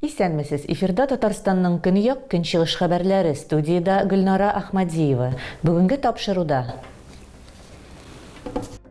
Исәнмесез! Эфирда Татарстанның көньяк, көнчыгыш хәбәрләре, студиядә Гөлнара Ахмадиева. Бүгенге тапшыруда.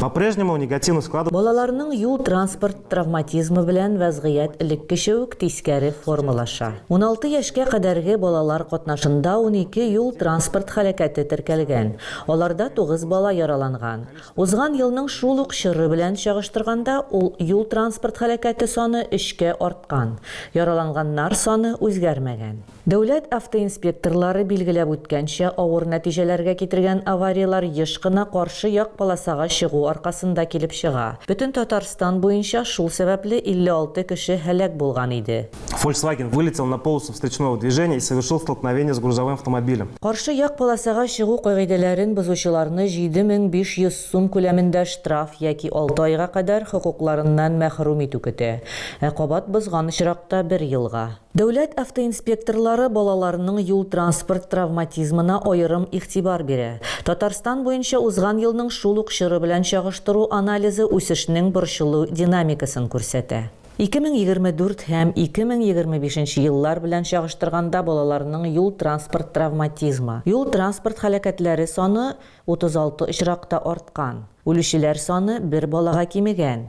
По-прежнему негативно склад. Балаларның юл-транспорт травматизмы белән вәзгыять элеккечә үк тискәре формалаша. Уналты яшькә кадәрге балалар катнашында унике юл-транспорт һәлакәте теркәлгән, аларда тугыз бала яраланган. Узган елның шул ук чоры белән чагыштырганда ул юл-транспорт һәлакәте саны өчкә арткан, яраланганнар саны үзгәрмәгән. Дәүләт автоинспекторлары билгеләп үткәнчә, авыр нәтиҗәләргә китергән аварияләр еш кына каршы як полосага чыгу аркасында килеп чыга. Бөтен Татарстан буенча шул сәбәпле 56 кеше һәлак булган иде. Фольксваген вылетел на полосу встречного движения и совершил столкновение с грузовым автомобилем. Каршы як полосага чыгу кагыйдәләрен бозучыларны 7500 сум күләмендә штраф яки алты айга кадәр хокукларыннан мәхрүм итү көтә, ә кабат бозган очракта, бер елга. Дәүләт автоинспекторлары балаларның юл-транспорт травматизмына аерым игътибар бирә. Татарстан буенча узган елның шул ук чоры белән чагыштыру анализы үсешнең борчылу динамикасын күрсәтә. 2024 һәм 2025 еллар белән чагыштырганда балаларның юл-транспорт травматизмы, юл-транспорт һәлакәтләре саны 36 очракта арткан, үлүчеләр саны бер балага кимегән.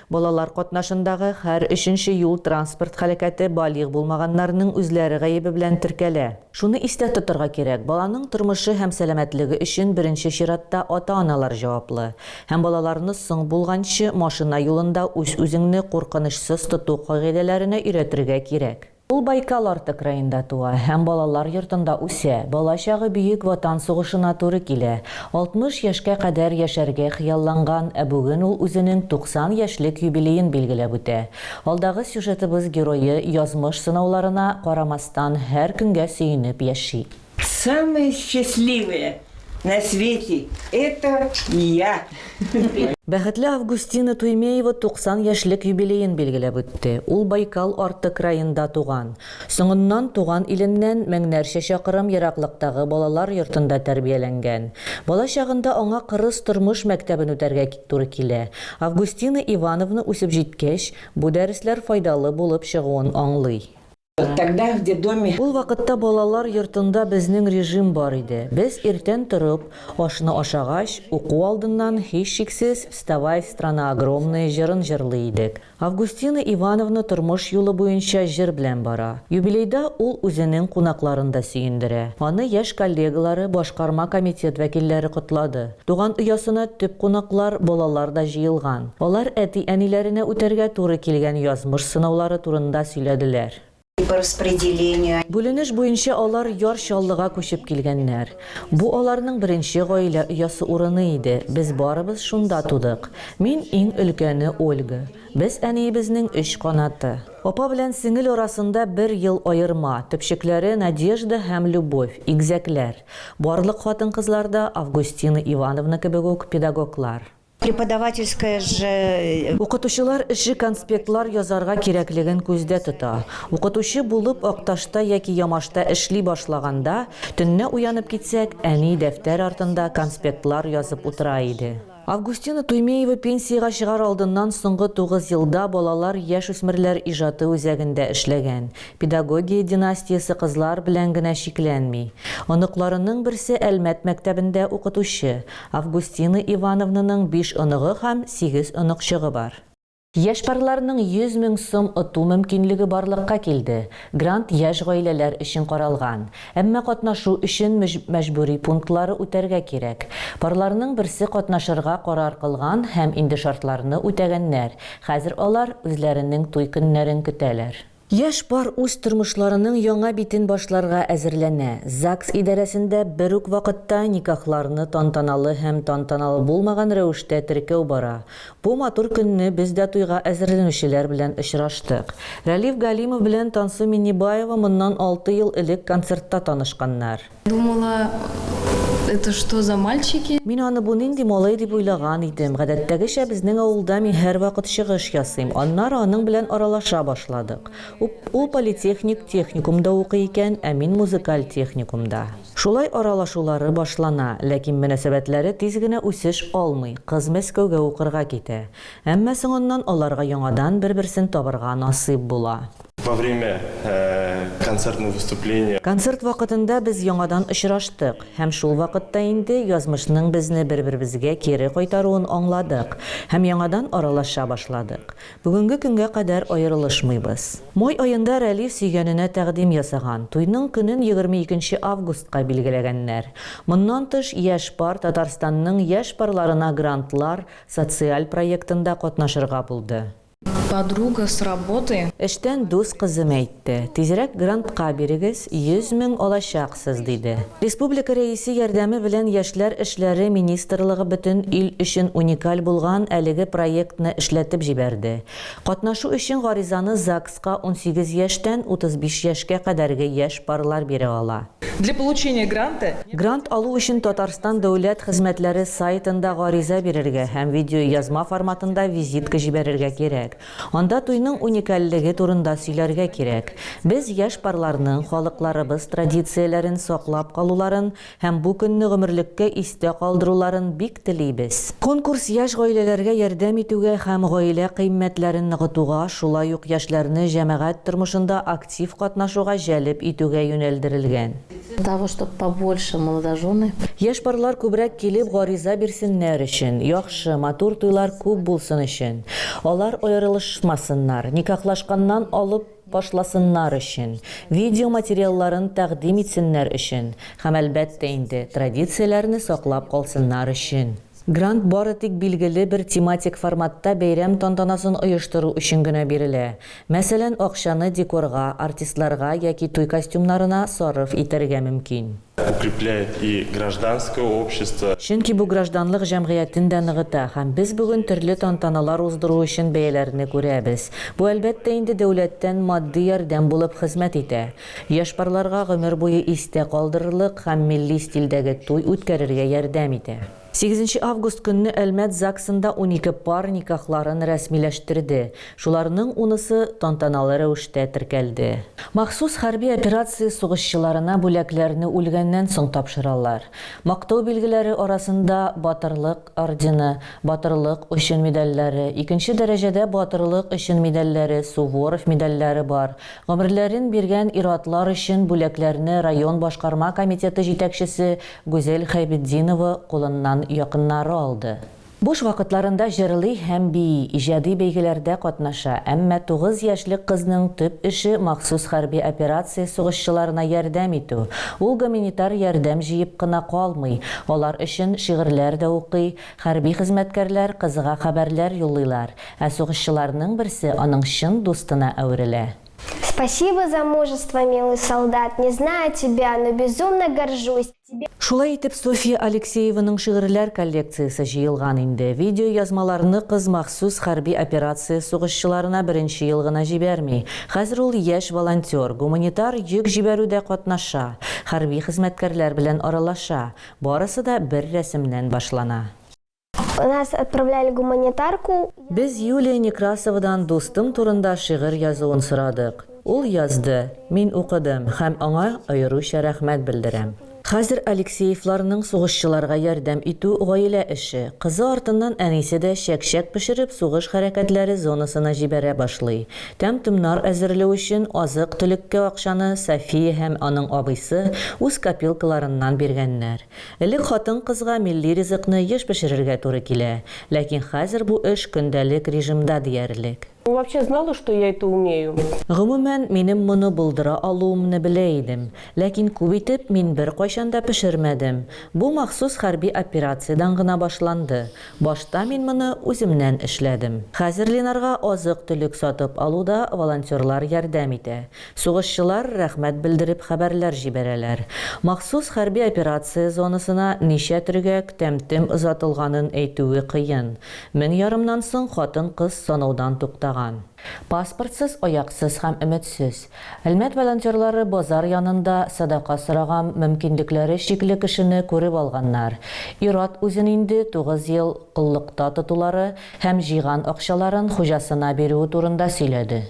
Балалар катнашындагы һәр өченче юл-транспорт һәлакәте балигъ булмаганнарның үзләре гаебе белән теркәлә. Шуны истә тотарга кирәк, баланың тормышы һәм сәламәтлеге өчен беренче чиратта ата-аналар җаваплы. Һәм балаларны соң булганчы машина юлында үз-үзеңне куркынычсыз тоту кагыйдәләренә өйрәтергә кирәк. Ул Байкал арты краенда туа һәм балалар йортында үсә. Балачагы Бөек Ватан сугышына туры килә. 60 яшькә кадәр яшәргә хыялланган, ә бүген ул үзенең 90 яшьлек юбилеен билгеләп үтә. Алдагы сюжетыбыз герое язмыш сынауларына карамастан һәр көнгә сөенеп яши. Самые счастливые на свете это я. Бәхетле Августина Туймеева 90 яшьлек юбилеен билгеләп үтте. Ул Байкал арты краенда туган. Соңыннан туган иленнән меңнәрчә чакрым ераклыктагы балалар йортында тәрбияләнгән. Бала чагында аңа кырыс тормыш мәктәбен үтәргә туры килә. Августина Ивановна үсеп җиткәч, бу дәресләр файдалы булып чыгуын аңлый. Тогда в детдоме. Ул вакытта балалар йортында безнең режим бар иде. Без иртән торып, ашны ашагач, уку алдыннан, һичшиксез, Вставай, страна огромная җырын җырлый идек. Августина Ивановна тормыш юлы буенча җыр белән бара. Юбилейда ул үзенең кунакларын да сөендерә. Аны яшь коллегалары, башкарма комитет вәкилләре котлады. Туган оясына төп кунаклар, балалар да җыелган. Алар әти-әниләренә үтәргә туры килгән язмыш сынаулары турында сөйләделәр. Бүленеш буенча алар Яр Чаллыга күчеп килгәннәр. Бу аларның беренче гаилә оясы урыны иде, без барыбыз шунда тудык. Мин, иң өлкәне Ольга. Без әниебезнең өч канаты. Апа белән сеңел арасында бер ел аерма, төпчекләре Надежда һәм Любовь, игезәкләр. Барлык хатын-кызлар да Августина Ивановна кебек үк педагоглар. Преподавательская ж. Укытучылар эше конспектлар язарга кирәклеген күздә тота. Укытучы булып Акташта яки Ямашта эшли башлаганда, төнлә уянып китсәк, әни дәфтәр артында конспектлар язып утыра иде. Августина Туймеева пенсиягә чыгар алдыннан соңгы тугыз елда балалар, яшүсмерләр иҗаты үзәгендә эшләгән. Педагогия династиясе кызлар белән генә чикләнми. Оныкларының берсе Әлмәт мәктәбендә укытучы. Августина Ивановнаның биш оныгы һәм сигез оныкчыгы бар. Яшь парларның 100 мең сум оту мөмкинлеге барлыкка килде. Грант яшь гаиләләр өчен каралган. Әмма катнашу өчен мәҗбүри пунктлары үтәргә кирәк. Парларның берсе катнашырга карар кылган һәм инде шартларны үтәгәннәр, хәзер алар үзләренең туй көннәрен көтәләр. Яшь пар үз тормышларының яңа битен башларга әзерләнә. ЗАГС идарәсендә бер үк вакытта никахларны тантаналы һәм тантаналы булмаган рәвештә теркәү бара. Бу матур көнне без дә туйга әзерләнүчеләр белән очраштык. Рәлиф Галимов белән Тансу Миннебаева моннан алты ел элек концертта танышканнар. Думала, это что за мальчики? Мин аны бу нинди малай дип уйлаган идем. Гадәттәгечә безнең авылда мин һәрвакыт чыгыш ясыйм. Аннары аның белән аралаша башладык. Ул политехник техникумда укый икән, ә мин музыкаль техникумда. Шулай аралашулары башлана, ләкин мөнәсәбәтләре тиз генә үсеш алмый, кыз Мәскәүгә укырга китә. Әмма соңыннан аларга яңадан бер-берсен табырга насыйп була. Во время концертных выступления. Концерт вакытында без яңадан очраштык һәм шул вакытта инде язмышның безне бер-беребезгә кире кайтаруын аңладык һәм яңадан аралаша башладык. Бүгенге көнгә кадәр аерылышмыйбыз. Май аенда Рәлиф сөйгәненә тәкъдим ясаган, туйның көнен егерме икенче августка билгеләгәннәр. Моннан тыш, яшь пар Татарстанның яшь парларына грантлар социаль проектында катнашырга булды. Подруга с работы. Эштән дус кызым әйтте, тизрәк грантка бирегез, 100 мең алачаксыз, диде. Республика Рәисе ярдәме белән Яшьләр эшләре министрлыгы бөтен ил өчен уникаль булган әлеге проектны эшләтеп җибәрде. Катнашу өчен гаризаны ЗАГСка унсигез яшьтән 35 яшькә кадәрге яшь парлар бирә ала. Для получения гранта. Грант алу өчен Татарстан дәүләт хезмәтләре сайтында гариза бирергә һәм видеоязма форматында визитка җибәрергә кирәк. Анда туйның уникальлеге турында сөйләргә кирәк. Без яшь парларның халыкларыбыз традицияләрен саклап калуларын һәм бу көнне гомерлеккә истә калдыруларын бик телибез. Конкурс яшь гаиләләргә ярдәм итүгә һәм гаилә кыйммәтләрен ныгытуга, шулай ук яшьләрне җәмәгать тормышында актив Тив катнашуга җәлеп итүгә юнәлдерелгән. Того чтоб побольше молодожены. Яшь парлар күбрәк килеп гариза бирсеннәр өчен, яхшы, матур туйлар күп булсын өчен, алар аерылышмасыннар, никахлашканнан алып башласыннар өчен, видео материалларын тәкъдим итсеннәр өчен һәм, әлбәттә инде, традицияләрне саклап калсыннар өчен. Грант бары тик билгеле бер тематик форматта бәйрәм тантанасын оештыру өчен генә бирелә. Мәсәлән, акчаны декорга, артистларга яки туй костюмнарына сарыф итәргә мөмкин. Укрепляет и гражданское общество. Чөнки бу гражданлык җәмгыятен дә ныгыта һәм без бүген төрле тантаналар уздыру өчен бәяләрне күрәбез. Бу, әлбәттә инде, дәүләттән матди ярдәм булып хезмәт итә. Яшь парларга гомер буе истә калдырырлык һәм милли стильдәге туй үткәрергә ярдәм итә. Сигезенче август көнне Әлмәт ЗАГСында унике пар никахларын рәсмиләштерде, шуларның унысы тантаналы рәвештә теркәлде. Махсус хәрби операция сугышчыларына бүләкләрне үлгәннән соң тапшыралар. Мактау билгеләре арасында Батырлык ордены, Батырлык өчен медальләре, икенче дәрәҗәдә Батырлык өчен медальләре, Суворов медальләре бар, Гомерләрен биргән ир-атлар өчен бүләкләрне район башкарма комитеты җитәкчесе Гүзәл Хәйбетдинова кулыннан якыннары алды. Буш вакытларында җырлый һәм бии, иҗади бәйгеләрдә катнаша, әмма тугыз яшьлек кызның төп эше махсус хәрби операция сугышчыларына ярдәм итү. Ул гоминитар ярдәм җыеп кына калмый, алар өчен шигырьләр дә укый, Хәрби хезмәткәрләр кызга хәбәрләр юллыйлар, ә сугышчыларның берсе аның чын дустына әверелә. Спасибо за мужество, милый солдат, не знаю тебя, но безумно горжусь, тебе. Шулай итеп, Софья Алексееваның шигырьләр коллекциясе җыелган инде. Видеоязмаларны кыз махсус хәрби операция сугышчыларына беренче ел гына җибәрми. Хәзер ул яшь волонтер, гуманитар йөк җибәрүдә катнаша, хәрби хезмәткәрләр белән аралаша, Барысы да бер рәсемнән башлана. Нас отправляли гуманитарку. Без Юлия Некрасовадан дустым турында шигырь язуын сорадык. Ул язды, мин укыдым һәм аңа аеруча рәхмәт белдерәм. Хәзер Алексеевларның сугышчыларга ярдәм итү гаилә эше. Кызы артыннан әнисе дә чәк-чәк пешереп сугыш хәрәкәтләре зонасына җибәрә башлый. Тәм-томнар әзерлү өчен азык-төлеккә акчаны София һәм аның абыйсы үз копилкаларыннан биргәннәр. Элек хатын-кызга милли ризыкны еш пешерергә туры килә, ләкин хәзер бу эш көндәлек режимда диярлек. Вы вообще знала, что я это умею? Гомумән, минем моны булдыра алуымны белә идем, ләкин күп итеп мин беркайчан да пешермәдем. Бу махсус хәрби операциядән гына башланды. Башта мин моны үземнән эшләдем. Хәзер Ленарга азык-төлек сатып алуда волонтерлар ярдәм итә. Сугышчылар рәхмәт белдереп хәбәрләр җибәрәләр. Махсус хәрби операция зонасына ничә төргәк, тәм-тем озатылганын әйтүе кыен. Мең ярымнан соң хатын-кыз санаудан туктаган. Паспортсыз, аяксыз һәм өметсез. Әлмәт волонтерлары базар янында садака сораган мөмкинлекләре чикле кешене күреп алганнар. Ир-ат үзен инде тугыз ел коллыкта тотулары һәм җыйган акчаларын хуҗасына бирүе турында сөйләде.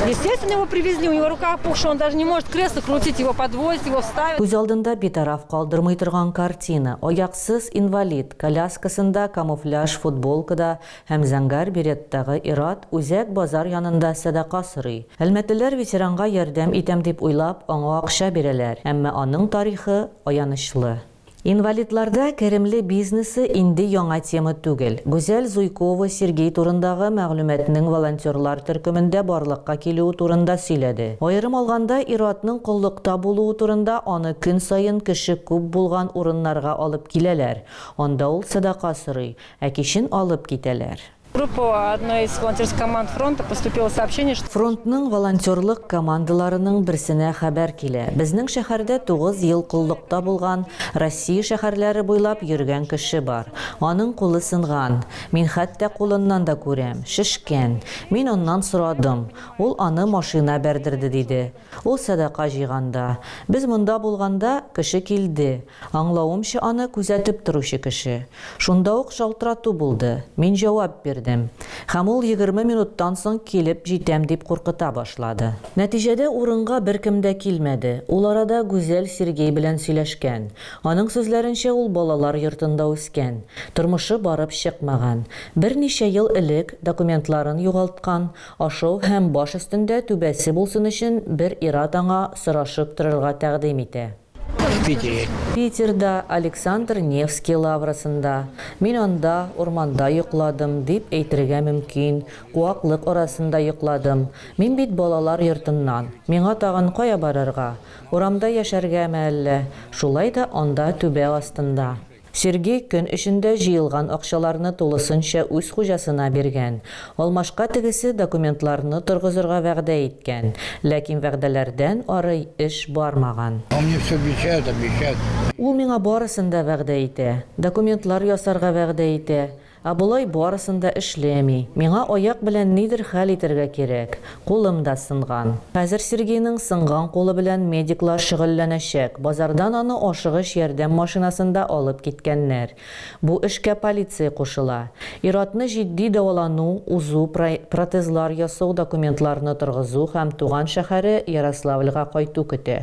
Естественно, его привезли, у него рука опухшая, он даже не может кресло крутить, его подвозят, его ставят. Күз алдында битараф калдырмый торган картина, аяксыз инвалид, коляскасында, камуфляж футболкада, Һәм зәңгәр береттагы ир-ат үзәк базар янында сәдака сорый. Әлмәтлеләр ветеранга ярдәм итәм дип уйлап, аңа акча бирәләр, әмма аның тарихы аянычлы. Инвалидларда керемле бизнесы инде яңа тема түгел. Гүзәл Зуйкова Сергей турындагы мәгълүматның волонтерлар төркемендә барлыкка килүе турында сөйләде. Аерым алганда, ир-атның коллыкта булуы турында, аны көн саен кеше күп булган урыннарга алып киләләр, анда ул сәдака сорый. Ә кичен алып китәләр. Группа одной из волонтерских команд фронта поступило сообщение, что. Фронтның волонтерлык командаларының берсенә хәбәр килә, безнең шәһәрдә тугыз ел коллыкта булган, Россия шәһәрләре буйлап йөргән кеше бар. Аның кулы сынган. Мин хәтта кулыннан да күрәм, шешкән. Мин аннан сорадым. Ул аны машина бәрдерде диде. Ул сәдака җыйганда. Без монда булганда, кеше килде. Аңлавымча аны күзәтеп торучы кеше. Шунда ук шалтырату булды. Мин җавап бирдем. Һәм ул егерме минуттан соң килеп җитәм дип куркыта башлады. Нәтиҗәдә урынга беркем дә килмәде. Ул арада Гүзәл Сергей белән сөйләшкән. Аның сүзләренчә ул балалар йортында үскән. Тормышы барып чыкмаган. Берничә ел элек документларын югалткан, ашау һәм баш өстендә түбәсе булсын өчен бер ир-ат аңа сорашып торырга тәкъдим итә. В Питере. Питерда, Александр Невский лаврасында. Мин анда, урманда йокладым, дип әйтергә мөмкин, куаклык арасында йокладым. Мин бит балалар йортыннан. Миңа тагын кая барырга? Урамда яшәргәме әллә? Шулай да анда түбә астында. Сергей көн эчендә җыелган акчаларны тулысынча үз хуҗасына биргән. Алмашка тегесе документларны торгызырга вәгъдә иткән, ләкин вәгъдәләрдән ары эш бармаган. Он мне все обещает, обещает. Ул миңа барысын да вәгъдә итә. Документлар ясарга вәгъдә итә, Ә болай барысын да эшләми. Миңа аяк белән нидер хәл итәргә кирәк. Кулым да сынган. Хәзер Сергейның сынган кулы белән медиклар шөгыльләнәчәк. Базардан аны ашыгыч ярдәм машинасында алып киткәннәр. Бу эшкә полиция кушыла. Ир-атны җитди дәвалану, узу, протезлар ясау, документларны торгызу һәм туган шәһәре Ярославльга кайту көтә.